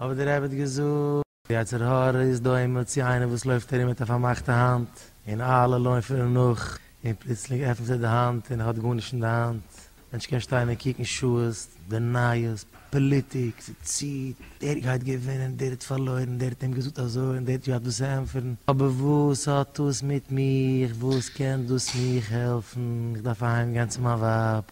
אבער דער רבי האט געזאגט. די יצר הרע איז דומה צו איינער וואס לויפט ארום מיט א פארמאכטע האנט, און אלע לויפן אים נאך, און פלוצלינג עפנט ער די האנט און ער האט גארנישט אין די האנט, מענטש קען שטיין און קוקן שעות, די נייעס, פאליטיק, ס'ציט, דער גייט געווינען, דער האט פארלוירן, דער האט אים געזאגט אזוי און דער האט געהאט וואס צו ענטפערן, אבער וואס האט דאס מיט מיך, וואס קען דאס מיך העלפן, איך דארף אהיים גיין צו מיין ווייב.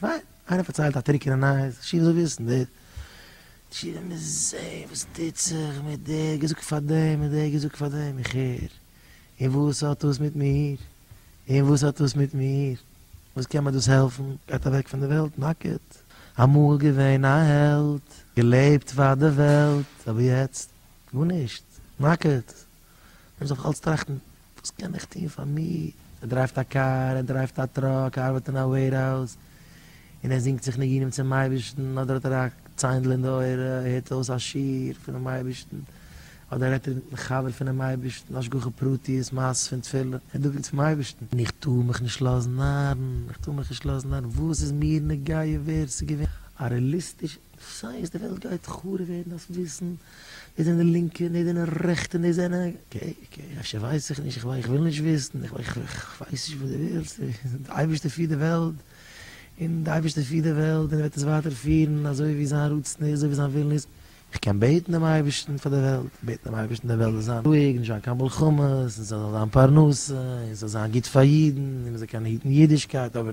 פיין, איינער פארציילט א טרוקענע נייעס, שיף זאל וויסן דער שיף וועט מיר זעהן וואס טוט זיך מיט דער האט געזאגט פאר דעם און דער האט געזאגט פאר דעם, איך הער, און וואס האט דאס מיט מיר? און וואס האט דאס מיט מיר? וואס קען מיר דאס העלפן? גייט אוועק פון די וועלט נאקעט. אמאל געווען א העלד, געלעבט פאר די וועלט, אבער יעצט גארנישט, נאקעט. מען זאל אלץ טראכטן, וואס קען איך טון פאר מיר? ער דרייווט א קאר, ער דרייווט א טראק, ער ארבעט אין א וועירהאוז, און ער זינגט זיך ניגונים צום אייבערשטן, אדער האט ער א ציינדל אין די אויער, ער הערט אויס א שיעור פונעם אייבערשטן, אדער רעדט ער מיטן חבר פונעם אייבערשטן, השגחה פרטית, מעשות פון תפילה, ער דאווענט צום אייבערשטן. און איך טאר מיך נישט לאזן נארן, איך טאר מיך נישט לאזן נארן, וואס איז מיר נוגע ווער עס איז געווען א רעליסטיש סיי אז די וועלט גייט חרוב ווערן דארפסט וויסן דאס זענען לינקע און דאס זענען רעכטע און דאס זענען קעי קעי אפשר ווייס איך נישט איך וויל נישט וויסן איך ווייס נישט וואס די ווילסט די אייבערשטער פירט די וועלט און די אייבערשטער פירט די וועלט און ער וועט עס ווייטער פירן אזוי ווי זיין רצון איז אזוי ווי זיין ווילן איז איך קען בעטן דעם אייבערשטן פאר די וועלט בעטן דעם אייבערשטן די וועלט זאל זיין רואיג נישט זיין קיין מלחמות און ס'זאל זיין פרנסה און ס'זאל זיין גוט פאר אידן און מ'זאל קענען היטן אידישקייט אבער